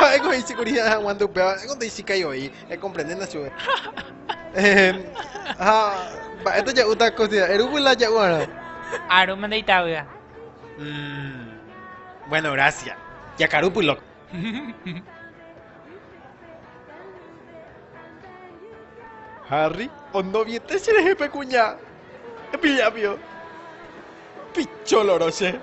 Ha'éko he'ise kuri hi'ã haguãnte upéva, ha'éngo nde ichikái oĩ, ekomprendéna chupe. Ha mba'épa ja'úta kosiderá, erúvo la ja'u'arõ. Arúma nde itavýa. Bueno, grásia. Jakarúpy lóko. Harry, ondoviete cherehe pe kuña. Epillapio. Picholoro che.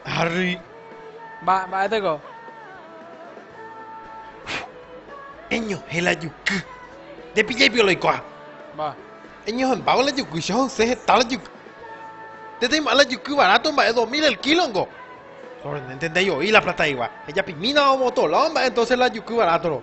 Harry. Ba, ba'éteko. Eñohẽ la juky. Jepijaipio la ikuaa. Ba. Eñohẽmbávo la juky, che ho'ysẽ heta la juky. Nde taim'a la juky baráto mba'e dos mil el kílongo. Sorprendénte ndai'oi la plataigua. Ejapimínava omotola omba'e entónse la juky barátoro.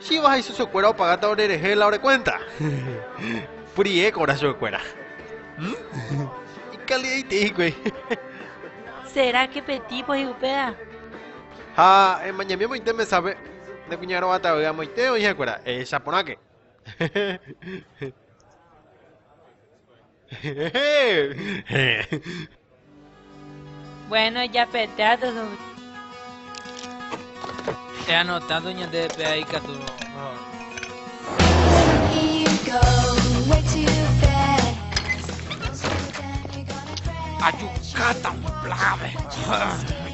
Chíva ha isosiokuéra opagáta orerehe la ore kuénta? Purihéko orasiokuéra. Ikali'aitei hikuái. Seráke pe típo hi'upérã? Ha emañami amoite mesápe nde kuña rogatavy amoite oĩhakuéra. Ehecha porãke. Bueno, japetea todo. He anotado ñande pea ikatu. Ajukáta, plave.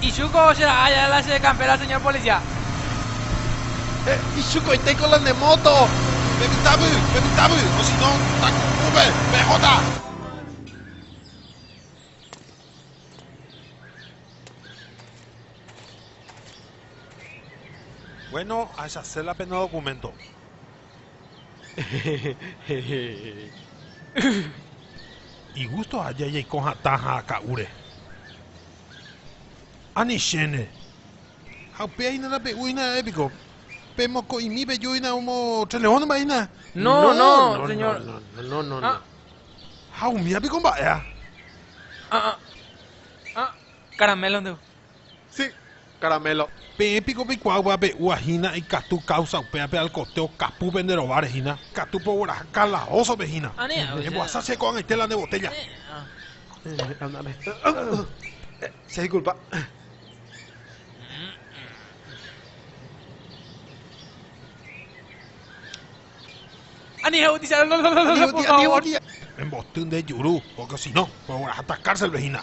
Ichuco che ra'a aja la che campera señor policia. Ichuco itéiko la ne moto. Pepitavy, pepitavy, o si no taku'úpe pehóta. Bueno, ahechase la pena documento. Igusto aja jaiko hatã ha aka'úre. Ani chéne. Ha upéi hína nape'úina ha'e piko. Pe moko'imi peju hína omo tres leónma hína. No, no, señor. No, no, no. Ha umía piko mba'éa. Ah, ah. Ah, caramelo ndévo. Sí, Caramelo. Peẽ piko peikuaa upévape úva hína ikatu káusa upévape alkotéo kapúpe nde rováre hína, katu pogueraha kalaósope hína. Embohasa che ko'ag̃aite la nde botélla. Emboty nde juru, porque sino ogueraháta cárcelpe hína.